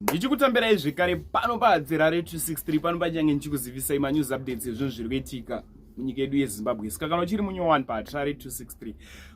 ndichikutambirai zvekare pano pahadzirare 263 pano pachange ndichikuzivisai manews updates ezvinhu zviri kuitika munyika yedu yezimbabwe saka kana uchiri munyowani pahatirare 263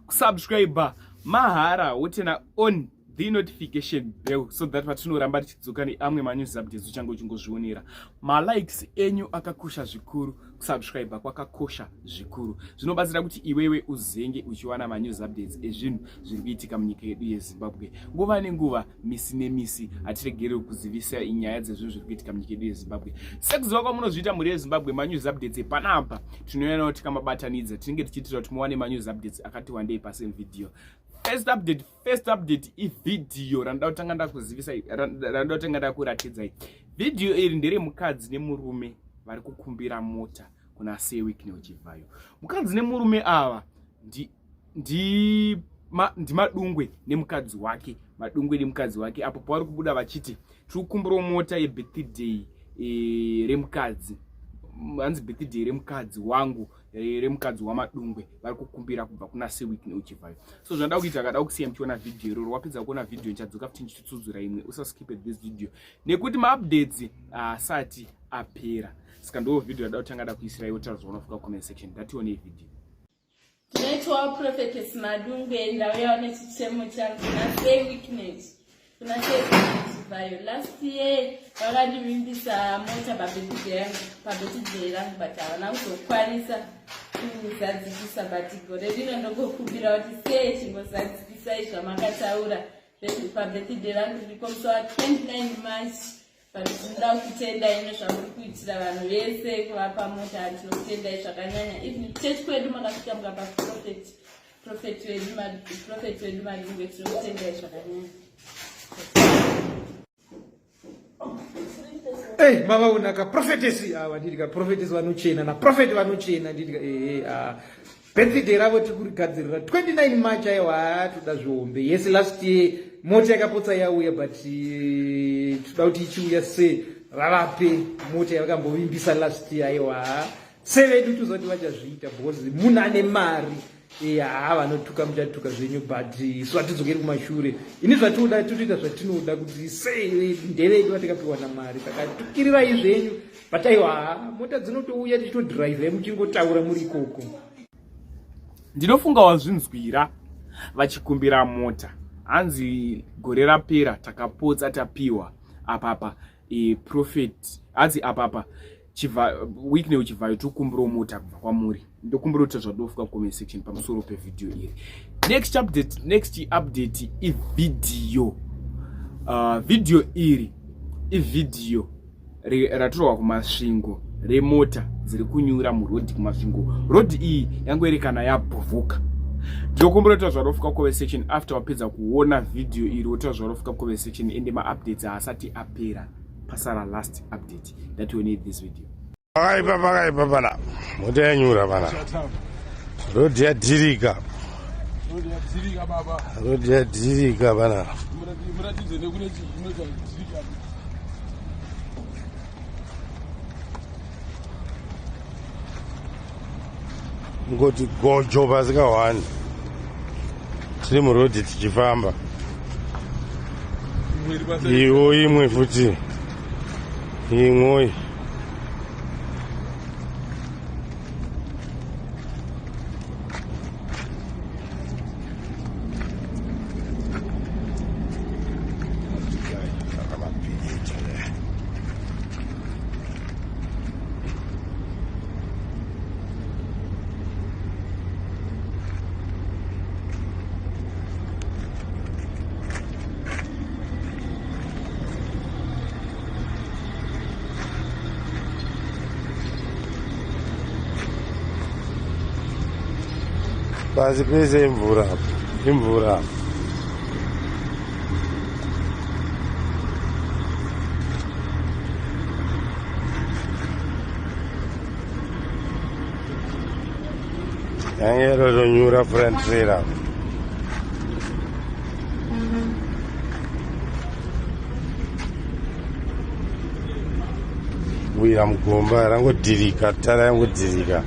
kusubscribe mahara wotena on the notification bell so that patinoramba tichidzoka neamwe manews updates uchange uchingozvionera malikes enyu akakosha zvikuru kusubscribe kwakakosha zvikuru zvinobatsira kuti iwewe uzenge uchiwana manews updates ezvinhu zviri kuitika munyika yedu yezimbabwe nguva nenguva misi nemisi hatiregereri kuzivisa nyaya dzezvinhu zviri kuitika munyika yedu yezimbabwe sekuziva kwamunozviita mhuri yezimbabwe manews updates epanapa tinoyanawo tikamabatanidza tinenge tichiitira kuti muwane manews updates akati wandei pasame video first update first update ivhidhiyo randida kutanga ndakuzivisa randida kutanga ndakuratidzai vhidhiyo iri ndere mukadzi nemurume vari kukumbira mota kuna sewick neuchivhayo mukadzi nemurume ava ndi ma, ndimadungwe nemukadzi wake madungwe nemukadzi wake apo pavari kubuda vachiti tiri kukumbirawo mota yebirthday e, remukadzi hanzi birthday remukadzi wangu e, remukadzi wamadungwe vari kukumbira kubva kuna seweek neuchivayo so zvandada kuita akada kusiya muchiona vhidhiyo iroro wapedza kuona vhidhiyo ndichadzoka futi ndichitsudzura imwe usaskipe this video nekuti maupdates asati apera saka ndoo vhidhiyo rada kutanga da kuisira iwo tara zvaunofika comment section ndatione vhidhiyo Tinoitwawo Prophetess Madungwe ndauyawo nechichemo changu nasei weakness kuna seechivayo last year vakandivimbisa mota pabetidhe yangu pabetidhe rangu but havana kuzokwanisa kuzadzikisa but gore rino ndokokubira kuti sei chingozadzikisai zvamakataura pabetidhe rangu ndiko musi wa 29 march But tinoda kutendai nezvamuri kuitira vanhu vese kuvapa mota tinokutendai zvakanyanya even church kwedu makasvika mukapa prophet prophet wedu prophet wedu madungwe tinokutendai zvakanyanya Hey, mama unaka prophetess awa ah, ndidika prophetess vanochena na prophet vanochena ndidika eh hey, eh, ah Birthday ravo tiri kurigadzirira 29 March ayo haatoda zvihombe. Yes last year mota yakapotsa yauya but eh, toda kuti ichiuya se ravape mota yavakambovimbisa last year ayo ha. Se vedu tozoti vachazviita because munhu ane mari eh, haa vanotuka muchatuka zvenyu but eh, isu hatidzokeri kumashure ini zvatinoda totoita zvatinoda kuti sei ndevedu vatikapiwa namari saka tukirirai zvenyu but aiwa mota dzinotouya tichitodrive muchingotaura muri ikoko ndinofunga wazvinzwira vachikumbira mota hanzi gore rapera takapotsa tapiwa apapa e, profet hanzi apapa week neuchivhayo tikumbirawo mota kubva kwamuri ndokumbira kuti zvadofuka mucomment section pamusoro pevideo iri next update next update ivideo uh, video iri ivideo ratorwa kumasvingo remota dziri kunyura murodhi kumasvingo rodhi iyi yange iri kana yabhovoka ndinokumbira kuti zvarofuka kove section after wapedza kuona video iri woti zvarofuka kove section ende maupdates haasati apera pasara last update that we need this video pakaipa pakaipa pana mota yanyura pana rhodhi yadhirika rhodhi yadhirika pana ngoti gojo pasi kahwani tiri murodhi tichifamba iwo imwe futi imwoyi pasi pese imvura apo imvura apo yange rotonyura front trailer kuwira mugomba rangodhirika tara yangodhirika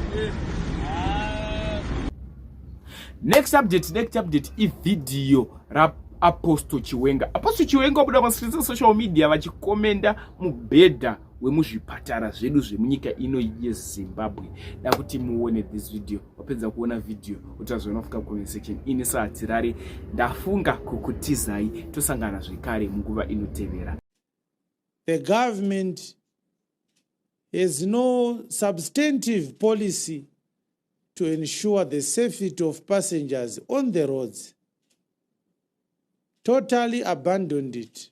next update next update ivhidhiyo raapostle chiwenga apostle chiwenga wabuda kwasirisa social media vachikomenda mubhedha wemuzvipatara zvedu zvemunyika ino yezimbabwe da kuti muone this video wapedza kuona video utazviona fuka comment section ini sahatirari ndafunga kukutizai tosangana zvekare munguva inotevera the government has no substantive policy to ensure the safety of passengers on the roads totally abandoned it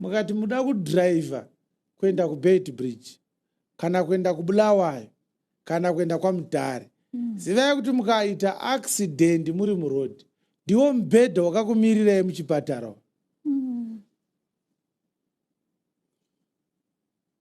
mukati muda kudriver kuenda kubed bridge kana kuenda kubulawayo kana kuenda kwamudhare mm. zivai kuti mukaita accident muri muroad ndiwo mubhedha wakakumirirai muchipatara mm.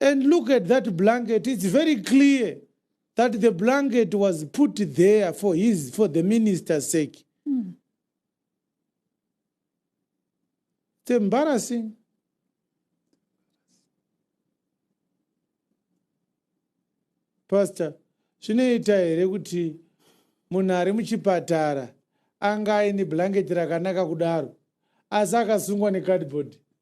And look at that blanket. It's very clear that the blanket was put there for his for the minister's sake. Mm. It's embarrassing. Pastor, zvinoita here kuti munhu ari muchipatara anga aine blanket rakanaka kudaro asi akasungwa necardboard?